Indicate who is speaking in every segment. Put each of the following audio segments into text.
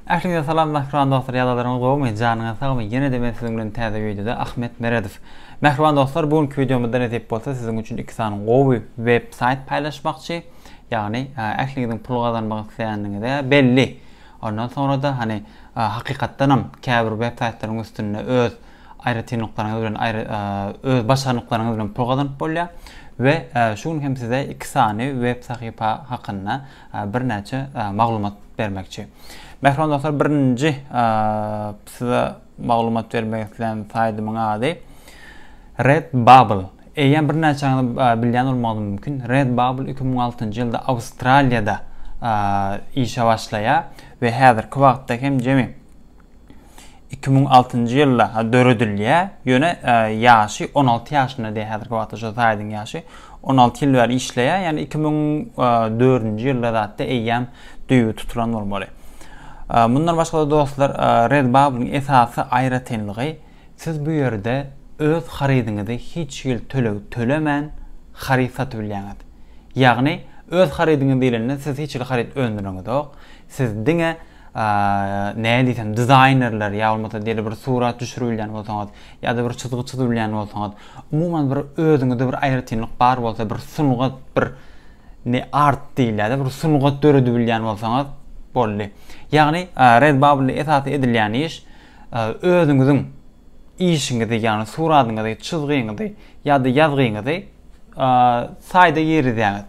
Speaker 1: Ähliňize salam mähriban dostlar ýadalaryňyz gowumy janyňyz sagmy ýenede men siziň bilen täze wideoda Ahmet Meredow Mähriban dostlar bu günki wideomyzda nesip bolsa siziň üçin iki sany gowy web saýt paýlaşmakçy ýagny ähliňiziň pul gazanmak isleýänligiňize belli ondan soňra-da hani hakykatdanam käbir web saýtlaryň üstünde öz aýratynlyklaryňyz bilen aýry öz başarnyklaryňyz bilen pul gazanyp bolýar we şu gün hem size iki sany web sahypa hakynda birnäçe maglumat bermekçi. Mähriban dostlar, birinji size maglumat bermek islän saýdymyň ady Redbubble. Eýýäm birnäçäňiz bilýän bolmagyňyz mümkin. Redbubble 2006-njy ýylda Awstraliýada işe başlaýar we häzirki wagtda hem jemi iki müň altynjy ýylda döredilýär, ýöne ýaşy on alty ýaşynda diýýär häzirki wagtda şu saýdyň ýaşy, on alty ýyl bäri işleýär, ýagny iki müň dördünji ýylda zatda eýýäm düýbi tutulan bolmaly. Mundan başga-da dostlar, Redbubble-yň esasy aýratynlygy, siz bu ýerde öz harydyňyzy hiç hili töleg tölemän haryt satyp bilýäňiz. Ýagny, öz harydyňyz diýlende siz hiç hili haryt öndüreňizok, siz diňe näme diýsem, dizaýnerler ýa bolmasa diýeli bir surat düşürilýän bolsaňyz, ýa-da bir çyzgy çyzylýan bolsaňyz, umuman bir özüňizde bir aýratynlyk bar bolsa, bir sungat, bir ne art diýilýär, bir sungat döredebilýän bolsaňyz boldy. Ýagny Redbubble esasy edilýän iş özüňiziň işiňizi, ýagny suratyňyzy, çyzgyňyzy ýa-da ýazgyňyzy saýda girizýäňiz.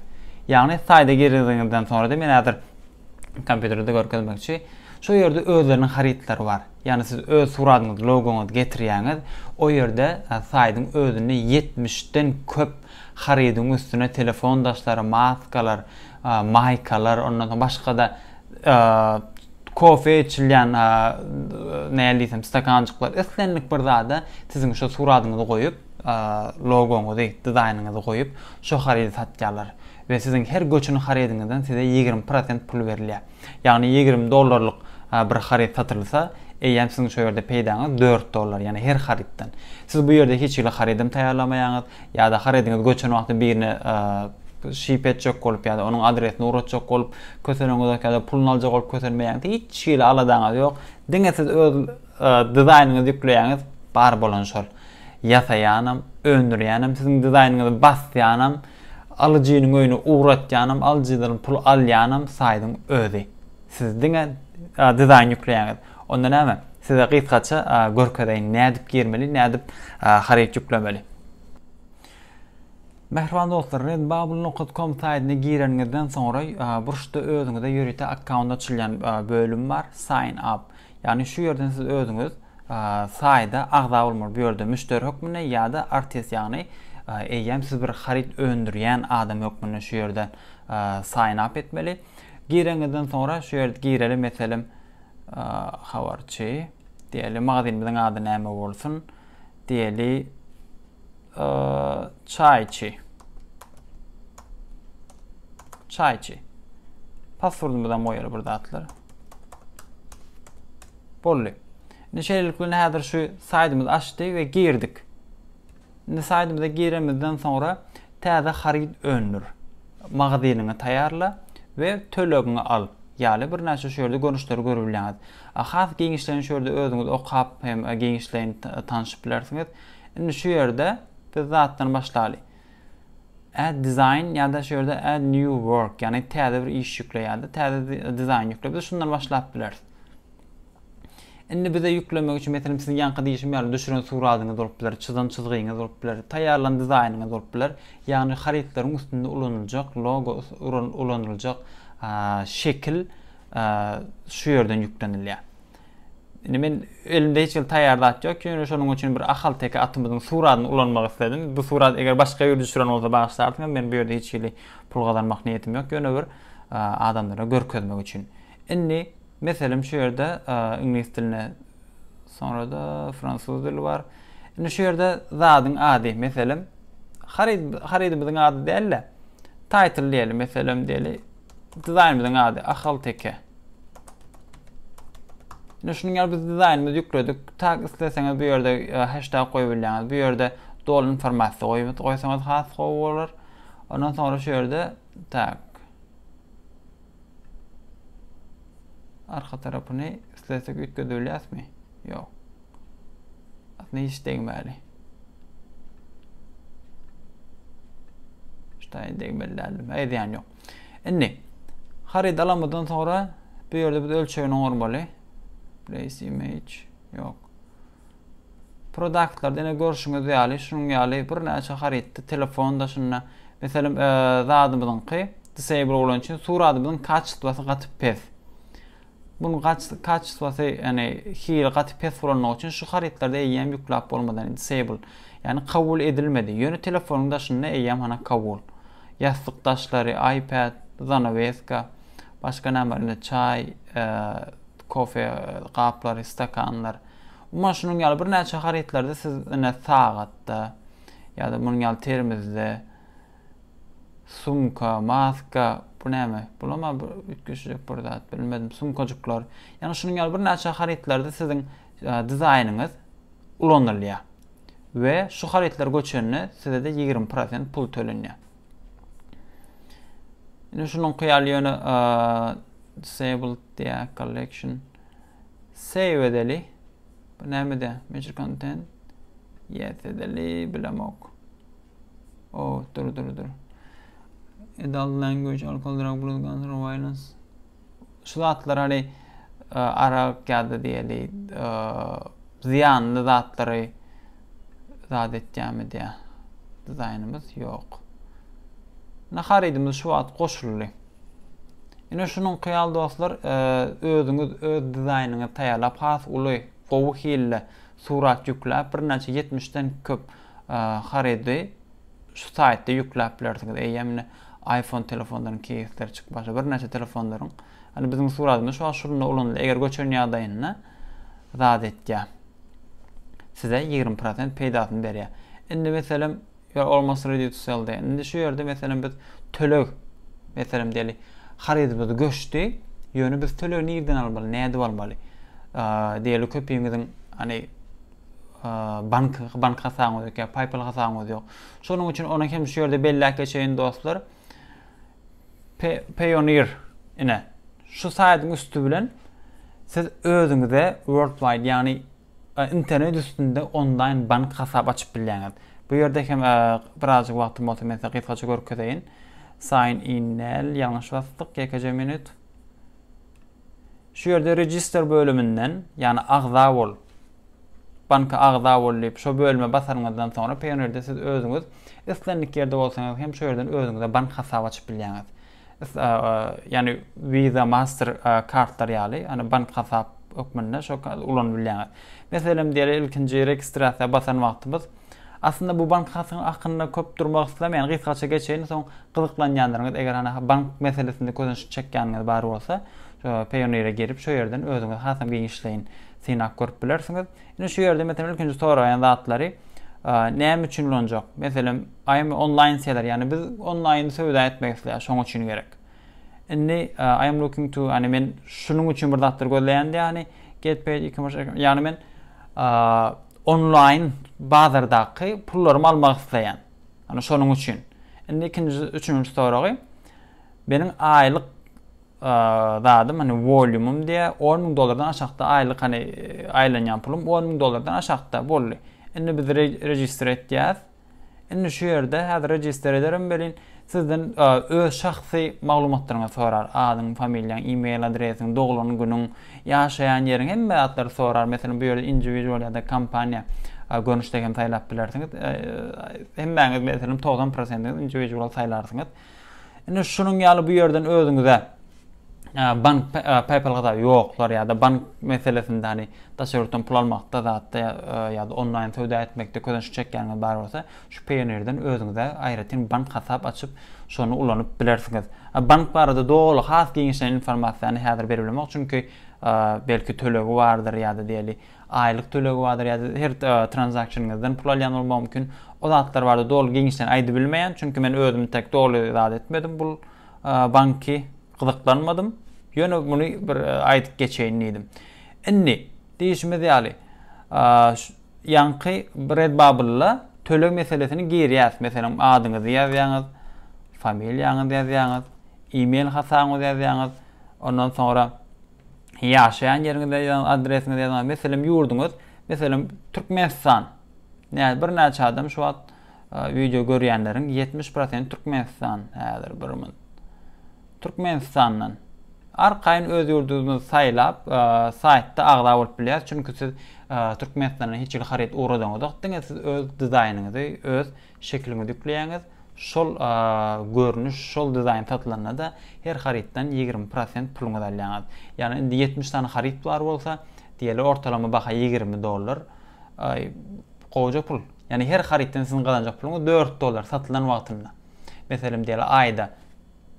Speaker 1: Ýagny saýda giriziňizden soňra-da men häzir Kompýuterde görkezmekçi. Şo ýerde özleriniň harytlary bar. Ýagny siz öz suratyňyzy, logoňyzy getirýäňiz. O ýerde saýdyň özünde ýetmiş den köp harydyň üstüne telefon daşlary, maskalar, maýkalar, ondan soň başga-da kofe içilýän näl diýsem stakanjyklar, islendik bir zada siziň şo suratyňyzy goýup, logoňyzy, dizaýnyňyzy goýup, şo harydy satýarlar. we siziň her göçen harydyňyzdan size ýigrimi prosent pul berilýär. Ýagny ýigrimi dollarlyk bir haryt satylsa, eýýäm siziň şu ýerde peýdaňyz dört dollar, ýagny her harytdan. Siz bu ýerde hiç hili harydam taýýarlamaýaňyz, ýa-da harydyňyz göçen wagty birine şyp etjek bolup ýa-da onuň adresini ugratjak bolup köseleňizok ýa-da puluny aljak bolup kösenmeýäňiz, hiç hili aladaňyz ýok. Diňe siz öz dizaýnyňyzy ýükleýäňiz, bar bolan şol. Ýasaýanam, öndürýänem siziň dizaýnyňyzy basýanam, alyjynyň öýüne ugratýanam, alyjydan pul alýanam saýdyň özi. Siz diňe dizaýn ýükleýäňiz. Onda näme? Size gysgaça görkezeýin nädip girmeli, nädip haryt ýüklemeli. Mähriban dostlar, Redbubble nokat com saýdyna gireniňizden soňra burçda özüňize ýörite akkaunt açylýan bölüm bar, Sign up. Ýagny şu ýerden siz özüňiz saýda agza bolmaly bu ýerde müşderi hökmünde ýa-da artist ýagny eýýäm siz bir haryt öndürýän adam hökmünde şu ýerden sign up etmeli. Girenizden soňra şu ýerde gireli meselem habarçy diýeli magazinimiziň ady näme bolsun diýeli. Çaýçy. Çaýçy. Passwordymyzam goýaly bir zatlar. Boldy. Indi şeýlelik bilen häzir şu saýtymyz açdy we girdik. Indi saýtymyza giremizden soňra täze haryt öndür. Magazynyňy taýýarla we tölegiňi al. Ýaly birnäçe şu ýerde görnüşleri görüp bilýäňiz. Has giňişleýin şu ýerde özüňiz okap hem giňişleýin tanyşyp bilersiňiz. Indi şu ýerde biz zatdan başlaly. Add design ýa-da şu ýerde add new work, ýagny täze bir iş ýükle ýa-da täze dizaýn ýükle. Biz şundan başlap bileris. Indi bize ýüklemek üçin meselem siziň ýaňky diýişim ýaly düşüren suratyňyz bolup biler, çyzan çyzgyňyz bolup biler, taýýarlan dizaýnyňyz bolup biler. Ýagny harytlaryň üstünde ulanyljak logo, ulanyljak şekil şu ýerden ýüklenilýär. Indi men elimde hiç hili taýýar zat ýok, ýöne şonuň üçin bir ahalteke atymyzyň suradyny ulanmak isledim. Bu surat eger başga ýerde düşüren bolsa bagyşlarsyňyz, men bu ýerde hiç hili pul gazanmak niýetim ýok, ýöne bir adamlara görkezmek üçin. Indi meselem şu ýerde iňlis diline soňra-da fransuz dili bar. Indi şu ýerde zadyň ady, meselem, harid, haridimiziň ady däl-de, title diýeli, meselem diýeli, Dizaýnymyzyň ady Ahalteke. Ine şunuň ýaly biz dizaýnymyzy ýükledik. Tag isleseňiz bu ýerde e, hashtag goýup bilýäňiz. Bu ýerde doly informasiýa goýup goýsaňyz has gowy bolar. Ondan soňra şu ýerde tag Arka tarapyny islesek üýtgedebilýäsmi? Ýok. Aslynda hiç degmäli. Ştaýy degmeli däldim. Eý diýen ýok. Indi haryt alamydan sonra bu ýerde biz ölçegini oňarmaly. Place image. Ýok. Produktlarda ine görşüňiz ýaly şunuň ýaly birnäçe harytdy telefon daşynda meselem e, zadymyzyňky disable bolan üçin suradymyzyň kaçtwasy gaty pes. Bunun kaçtwasy ýani hili gaty pes bolanlygy üçin şu harytlarda eýýäm ýükläp bolmadan disable ýani kabul edilmedi. Ýöne telefonyň daşynda eýýäm hana kabul. Ýassyk daşlary, iPad, zanaweska, başga näme indi çaý, e, Kofe gaplary, stakanlar. Umuman şunuň ýaly birnäçe harytlary-da siz ine sagat-da ýa-da munuň ýaly termizde, sumka, maska, bu näme? Bulam-a üýtgeşijek bir zat, bilmedim, sumkajyklar. Ýagny şunuň ýaly birnäçe harytlarda siziň dizaýnyňyz ulanylýar we şu harytlar göçende size-de ýigrimi prosent pul tölenýär. Indi şunuň kyýaly ýöne disabled diye collection save edeli. Bu näme diye? Major content yes edeli bilemok. Oh, dur dur dur. Adult language alcohol drug blood cancer violence şu zatlar hani e, arak ýa-da diýeli e, zyýanly zatlary zat etýärmi diýä dizaýnymyz ýok. Ine haridimiz şu wagt goşuldy. Ine şunuň kyýal dostlar e, özüňiz öz dizaýnyňyzy taýýarlap has uly gowy hilli surat ýükläp birnäçe 70-den köp e, harydy Şu saýtda ýükläp bilersiňiz. Eýýäm indi iPhone telefonlaryň keýsleri çykyp başlady. Birnäçe telefonlaryň, ýagny biziň suratymyz şu wagt şunda ulanylýar. Eger göçen ýagdaýynda zat etýär. Size ýigrimi prosent peýdasyny berýär. Indi meselem, ýör almost ready to sell diýýär. Indi şu ýerde meselem biz töleg, meselem diýeli, harytymyz göçdi. Ýöne biz tölegi nirden almaly, nädip almaly? Diýeli köpüňiziň, hany, bank bank hasabyňyz ýok ýa PayPal hasabyňyz ýok. Şonuň üçin ony hem şu ýerde belläp geçeýin dostlar. Payoneer ine şu saýtyň üsti bilen siz özüňize worldwide ýagny e, internet üstünde onlaýn bank hasap açyp bilýäňiz. Bu ýerde hem e, birazjyk wagtym bolsa men size gysgaça görkezeýin. Sign in nel ýalňyş basdyk ýekeje minut. Şu ýerde Register bölüminden, ýagny Agza bol, Banka agza bol diýip, şo bölüme basanyňyzdan soňra Payoneer-de siz özüňiz islendik ýerde bolsaňyz hem şo ýerden özüňize bank hasap açyp bilýäňiz. Ýagny Visa, Master kartlar ýaly, ýagny bank hasap hökmünde şo ulanyp bilýäňiz. Meselem diýeli ilkinji registrasiýa basan wagtymyz Aslynda bu bank hatyň akynda köp durmak islemeýän gysgaça geçeýin soň gyzyklanýanlaryňyz eger hany bank meselesinde közenç çekýäniniz bar bolsa payoneer'e girip şo ýerden özüňiz hasam giňişleýin synap görüp bilersiňiz. Indi şu ýerde meselem ilkinji soraýan zatlary näme üçin ulanjak? Meselem aýmy onlaýn seler ýagny biz onlaýyn söwda etmek isleýäs şoň üçin gerek. Indi I am looking to ýagny men şunuň üçin bir zatlar gözleýän ýagny get paid e-commerce account ýagny men onlaýn bazardaky pullarymy almak isleýän. Ýagny şonuň üçin. Indi ikinji üçünji soragy meniň aýlyk zadym hani volýumym diýä 10 müň dollardan aşakda aýlyk hani aýlanýan pulum 10 müň dollardan aşakda boldy. Indi biz register etýäs. Indi şu ýerde häzir register ederim welin sizden öz şahsy maglumatlaryňyzy sorar, adyň, familiýaň, e-mail adresiň, doglan günüň, ýaşaýan ýeriň hemme zatlary sorar. Meselem bu ýerde individual ýa-da kompaniýa görnüşde hem saýlap bilersiňiz. Hemmäňiz meselem togsan prosentiňiz individual saýlarsyňyz. Indi şunuň ýaly bu ýerden özüňize bank PayPal hasaby ýoklar ýa-da bank meselesinde hani daşary ýurtdan pul almakda zatda ýa-da onlaýn söwda etmekde közenç çekýäniňiz bar bolsa, şu Payoneer-den özüňize aýratyn bank hasap açyp, şony ulanyp bilersiňiz. Bank barada doly has giňişleýin informasiýany häzir berip bilemok, çünki belki tölegi bardyr ýa-da diýeli Aýlyk tölegi bardyr ýa-da her tranzaksyonyňyzdan pul alýan bolmagy mümkin. O zatlar barada doly giňişleýin aýdyp bilmeýän, çünki men özüm tek doly zat etmedim bul banky, gyzyklanmadym. Ýöne muny bir aýdyp geçeýin diýdim. Indi, diýişimiz ýaly, ýaňky Redbubble-a töleg meselesini girýäs. Meselem, adyňyzy ýazýaňyz, familiýaňyzy ýazýaňyz, e-mail hasabyňyzy ýazýaňyz, ondan soňra Ýaşaýan ýeriňizi ýazyň, adresiňizi ýazyň. Meselem, ýurduňyz, meselem, Türkmenistan. Näz birnäçe adam şu wagt wideo görýänleriň ýetmiş prosenti Türkmenistan. Häzir bir min. Türkmenistandan. Arkaýyn öz ýurduňyzy saýlap, saýtda agza bolup bilýär. Çünki siz Türkmenistana hiç hili haryt ugradyňyzok. Diňe siz öz dizaýnyňyzy, öz Şekiliňizi ýükleýäňiz, şol görnüş, şol dizaýn satylanda-da her harytdan ýigrimi prosent puluňyzy alýaňyz. Ýagny indi ýetmiş sany haryt bar bolsa, diýeli ortalama baha ýigrimi dollar. Gowja pul. Ýagny her harytdan siziň gazanjak puluňyz dört dollar satylan wagtynda. Meselem diýeli aýda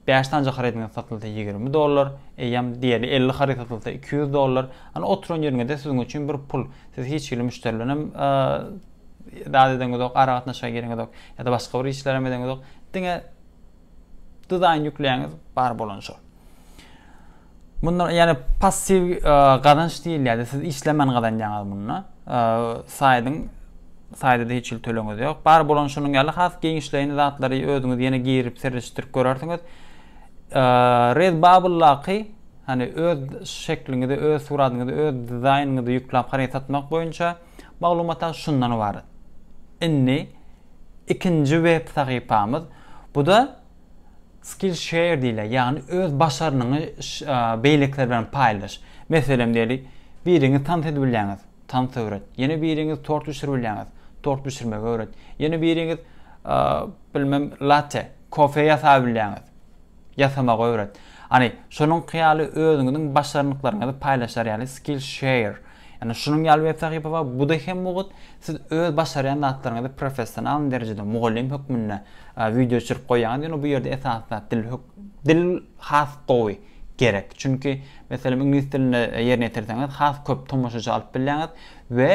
Speaker 1: Bäş sanja harydyňyz satylsa ýigrimi dollar, eýýäm diýeli elli haryt satylsa iki ýüz dollar. Ony oturan ýeriňizde siziň üçin bir pul. Siz hiç hili müşderi bilenem zat edeňizok, aragatnaşyga gireňizok ýa-da başga bir işlerem edeňizok. Diňe dizaýn ýükleýäňiz, bar bolany şol. Munda ýagny passiw gazanç diýilýärdi. Siz işlemän gazanýaňyz munda. Saýdyň saýda hiç hili tölegiňiz ýok. Bar bolan şunuň ýaly has giňişleýin zatlary özüňiz ýene girip serişdirip görersiňiz. Redbubble-daky hani öz şekliňizi, öz suratyňyzy, öz dizaýnyňyzy ýükläp haryt satmak boýunça maglumatlar şundan ybarat. Indi ikinji web sahypamyz. Bu da Skillshare diýilýär, ýagny öz başarnyňy beýlekiler bilen paýlaş. Meselem diýeli, biriňiz tans edip bilýäňiz, tans öwret. Ýene biriňiz tort bişirip bilýäňiz, tort bişirmegi öwret. Ýene biriňiz, bilmem, latte, kofe ýasap bilýäňiz, ýasamagy öwret. Hany, şonuňky ýaly özüňiziň başarnyklaryňyzy paýlaşar ýaly Skillshare. Ýöne şunuň ýaly web sahypa bar, bu-da hem mugt, siz öz başarýan zatlaryňyzy professional derejede mugallym hökmünde wideo düşürip goýýaňyz, ýöne bu ýerde esasy zat dil dil has gowy gerek. Çünki, meselem, iňlis dilinde ýerine ýetirseňiz, has köp tomaşaçy alyp bilýäňiz we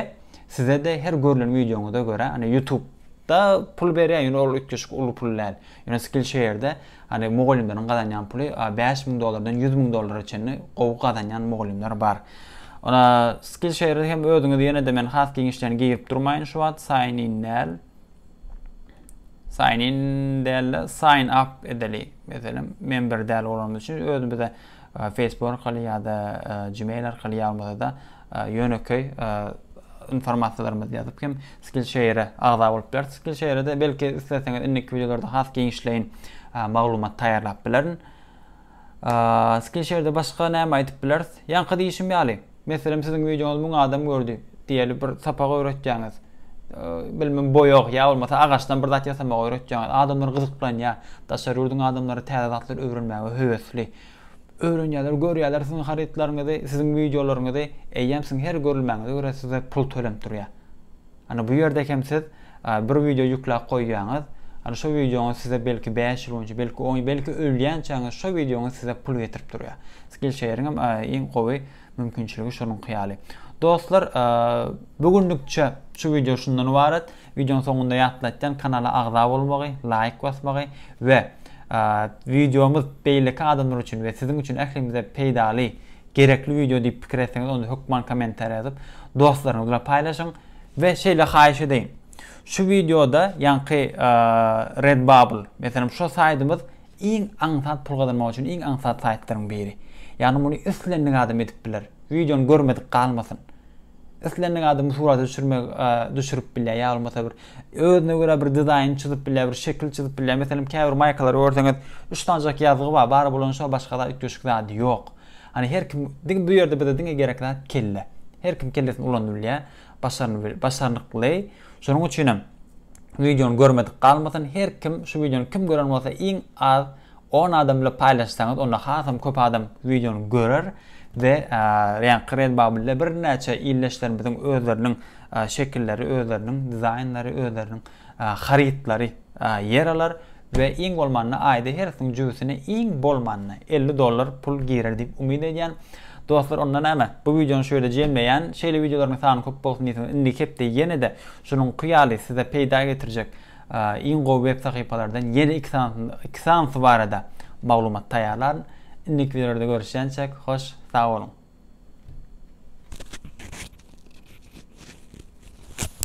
Speaker 1: size-de her görlen wideoňyza görä, ýa-da ýutubda pul berýär, ýöne ol üýtgeşik uly pul däl. Ýöne Skillshare-de hany mugallymlaryň gazanýan puly bäş müň dollardan ýüz müň dollara çenli gowy gazanýan mugallymlar bar. Ýöne Skillshare-de hem özüňiz ýene-de men has giňişlerini girip durmaýyn şu wagt sign in däl. Sign in däl-de sign up edeli. Meselem, member däl bolanymyz üçin özümize Facebook arkaly ýa-da Gmail arkaly ýazmasa-da ýönekeý informasiýalarymyzy ýazyp hem Skillshare agza bolup bilersiň. Skillshare-de belki isleseňiz indiki wideolarda has giňişleýin maglumat taýýarlap bilerin. Skillshare-de başga näme aýdyp bileris? Ýaňky diýşim ýaly, Meselem siziň wideoňyzy müň adam gördi diýeli bir sapak öwretýäňiz. Bilmem boýag ýa bolmasa agaçdan bir zat ýasamagy öwretýäňiz. Adamlar gyzyklanýar. Daşary ýurduň adamlary täze zatlary öwrenmäge höwesli. Öwrenýärler, görýärler siziň harytlaryňyzy, siziň wideolaryňyzy. Eýýäm siziň her görülmäňize görä size pul tölenip durýar. Ana bu ýerde hem siz bir wideo ýükläp goýýaňyz, ana şo wideoňyz size belki bäş ýyl boýunça, belki on ýyl, belki ölýänçäňiz şo wideoňyz size pul getirip durýar. Skillshare-iň hem iň gowy mümkinçiligi şonuňky ýaly. Dostlar, bu günlükçe şu wideo şundan ybarat. Wideoň soňunda ýatlatýan kanala agza bolmagy, laýk basmagy we wideomyz beýleki adamlar üçin we siziň üçin ählimize peýdaly Gerekli wideo diýip pikir etseňiz onda hökman kommentariýa ýazyp dostlaryňyz bilen paýlaşyň we şeýle haýyş edeýin. Şu wideoda ýaňky Redbubble meselem şo saýtymyz iň aňsat pul gazanmak üçin iň aňsat saýtlaryň biri. Ýagny muny islendik adam edip biler. Wideony görmedik galmasyn. Islendik adam surat düşürmek düşürip bilýär. Ýa bolmasa bir özüne görä bir dizaýn çyzyp bilýär, bir şekil çyzyp bilýär. Meselem, käbir maýkalary görseňiz, üç sanjak ýazgy bar, bar bolan şo başga zat üýtgeşik zat ýok. Hani her kim diňe bu ýerde bize diňe gerek zat kelle. Her kim kellesini ulanyp bilýär, başarny başarnykly. Şonuň üçin hem wideony görmedik galmasyn. Her kim şu wideony kim gören bolsa iň az On adam bilen paýlaşsaňyz onda hasam köp adam wideony görer we ýaňky Redbubble-de birnäçe ildeşlerimiziň özleriniň şekilleri, özleriniň dizaýnlary, özleriniň harytlary ýer alar we iň bolmanda aýda hersiniň jübüsine iň bolmanda elli dollar pul girer diýip umyt edýän. Dostlar onda näme bu wideony şu ýerde jemleýän. Şeýle wideolaryň sany köp bolsun diýseňiz indiki hepde ýene-de şunuňky ýaly size peýda getirjek Iň gowy web sahypalardan ýene iki sanysyny iki sanysy barada maglumat taýýarlaryn. Indiki wideolarda görüşýänçäk hoş sag boluň.